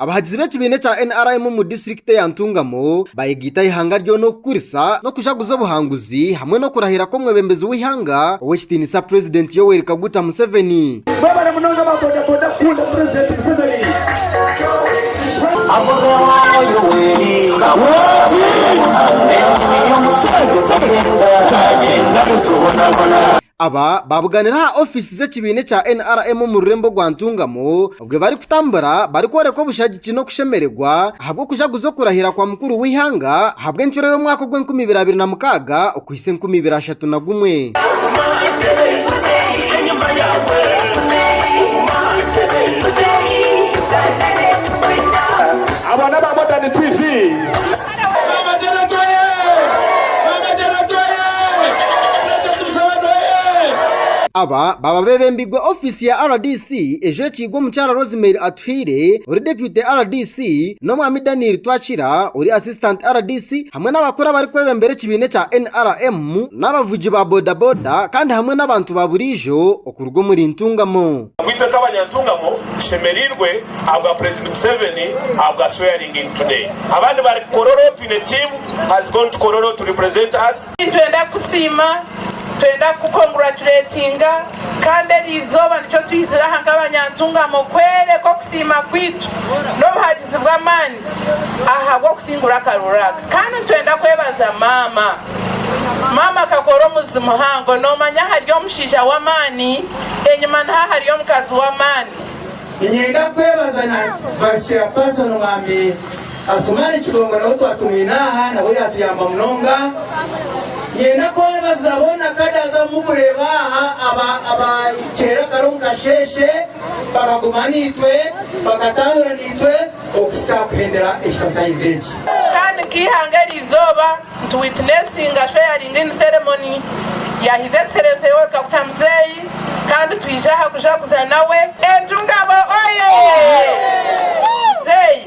Abahagizi b'ekibiina ekya NRM omu disiturikiti eya Ntungamo bayegaita eihanga ryona okukurisa n'okujaguza obuhanguzi hamwe n'okurahira kw'omwebembezi w'eihanga ow'ekitiinisa purezidenti Yoweri Kaguta Museveni. Aba baabuganire aha ofiisi z'ekibiina ekya nrm omu rurembo rwa Ntungamo obwe barikutambura barikworeka obushagiki n'okushemererwa ahabw'okujaguza okurahira kwa mukuru w'eihanga ahabw'enshuro y'omwaka ogw'enkumi ibiri abiri na mukaaga. Ise enkumi ibiri ashatu na gumwe. Abo n'aba Modern TV. Aba baba bebembirwe ofiisi ya rdc ejwekiirwe omukyara Rosemary Atuhaire ori deputy rdc n'omwami Daniel Twakira ori assistant rdc. hamwe n'abakuru abarikwebembera ekibiina ekya NRM n'abavugi ba bodaboda kandi hamwe n'abantu ba buriijo okuruga omuri Ntungamo. Itwe nk'abanyantungamo tushemereirwe ahabwa Purezidenti Museveni ahabwa swearinging today. Abandi bari Kololo twine team has gone to Kololo to represent us. Nitwenda kusiima Twenda kukukonguracuretinga kandi eri izooba nikyo twizire aha nk'abanyantungamo kwereka okusiima kwaitu n'obuhagizi bw'amaani ahabw'okusingura akaruuru aka kandi nitwenda kwebaza maama maama akakora omuzi muhango noomanya ahari omushaija w'amaani enyima niho ahari omukazi w'amaani. Ninyenda kwebaza na Vice Chairperson Omwami. Asumani Kidongo nabo twatumwine aha nabwo yatuyamba munonga. Ninyenda kwebaza boona kadaza abu mukureeba aha aba abahikirire kare omu kasheeshe bakaguma naitwe bakatambura naitwe okuhitsya aha kuhendera exercise egi. Kandi nk'eihanga eri izooba ntu witnessinga swearing in ceremony ya His Excellency Yoweri Kaguta Muzeeyi kandi twije aha kujaguza nawe. Entungamo oyee! Muzeeyi.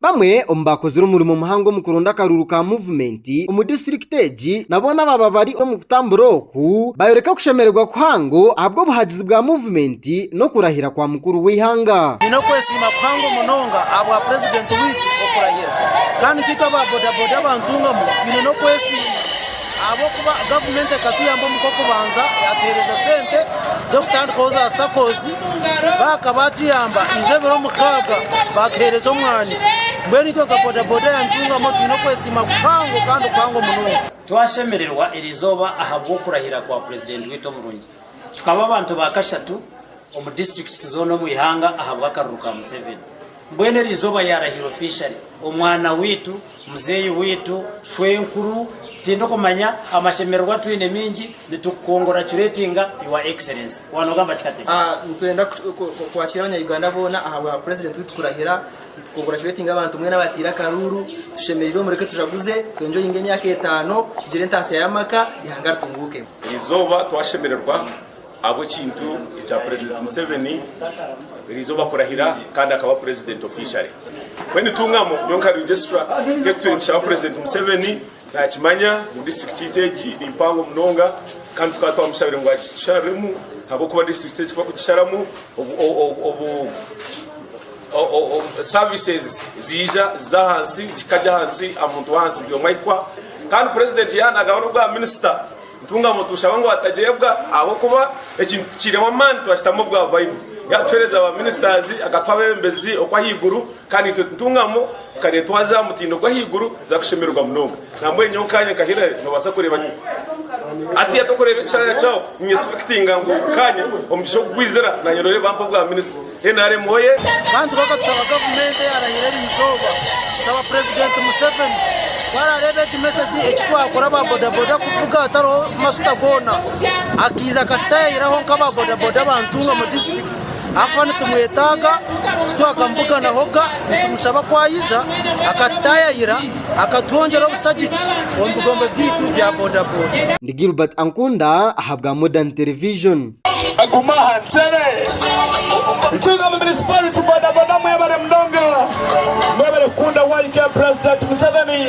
Bamwe omu baakozire omurimo muhango omu kuronda akaruuru ka muvumenti omu disiturikiti egi nabo n'abaaba bari omu kutambura oku, baayoreka okushemererwa kuhango ahabw'obuhagizi bwa muvumenti n'okurahira kwa mukuru w'eihanga. Nyine okwesiima kuhango munonga ahabwa Purezidenti waitu okurahira kandi nkaitwe aba bodaboda aba Ntungamo twine n'okwesiima. Ahabw'okuba gavumenti ekatuyamba omu k'okubanza yatuheereza sente z'okutandikaho za SACCOS. Baaka baatuyamba iza ebiro mukaaga baatuheereza omwani. Mbwenu itwe nka bodaboda yaantungamu twine okwesiima kuhango kandi kuhango munonga. Twashemererwa erizooba ahabw'okurahira kwa Purezidenti waitu omurungi. Tukaba abantu ba kashatu omu district zoona omu ihanga ahabw'akaruru ka Museveni. Mbwenu eri izooba yaarahira officially omwana waitu, muzeeyi waitu, shwenkuru, tindikumanya, amashemererwa atwine maingi, nitukukongoracuratinga your excellency. Waaba noogamba ki katebe? Nitwenda kwakira abanya-Uganda boona ahabwa president waitu kurahira. Nitukongoracuratinga abantu mbwenu abataire akaruuru. Tushemereirwe mureke tujaguze, twe enjoyinge emyaka etaano, tugire entaasya y'amaka, eihanga ritunguuke. Eri izooba twashemererwa. Ahabw'ekintu ekya Purezidenti Museveni erizooba kurahira kandi akaba Purezidenti officially. Mbwenu nitungamu nyowe nka Registrar nka ebi twine nitushaba Purezidenti Museveni nakimanya ngu District yaitu egi ni mpango munonga kandi tukaba twamushabire ngu agitusharuremu ahabw'okuba District egi bakugisharamu services ziija ziza ahansi zikagya ahansi aha muntu w'ahansi buri omwe ahikwa kandi Purezidenti yaba nagaba n'obwa Minisita. Ntungamo tushaba ngu atagyebwa ahabw'okuba ekintu tikiineho amaani twakitamu obwa vayibu. Yaatuheereza ba ministers, akatuha abeebembezi okw'ahaiguru kandi itwe Ntungamo tukareetwaza aha mutindo gw'ahaiguru tuza kushemererwa munonga. Nambwenu nyowe nkaanye nka Hillary noobaasa kureeba hatiya tikureeba ekishaarara kyawe ninyesipekitinga ngu nkaanye omugisha ogu gwizira naanye nooreeba bampa obwa minister. Nrm oyee! Bantu baka tusaba gavumenti eyarahire eri izooba kusaba purezidenti museveni ku arareeba egi mesegi eki twakora aba bodaboda kuvuga hatariho masuta goona akaiza akatutayayiraho nka aba bodaboda aba ntungamo disiturikiti ahakuba nitumwetaaga titwakamubuganaho ga nitumushaba ku ayija akatutayayira akatwongyera obusagiki omu bigombe byaitu bya bodaboda. Ndi Gilbert Ankunda ahabwa Modern Television. Guma aha ntere. Ntunga municipality bodaboda mwebare munonga mwebare kukunda YK president museveni.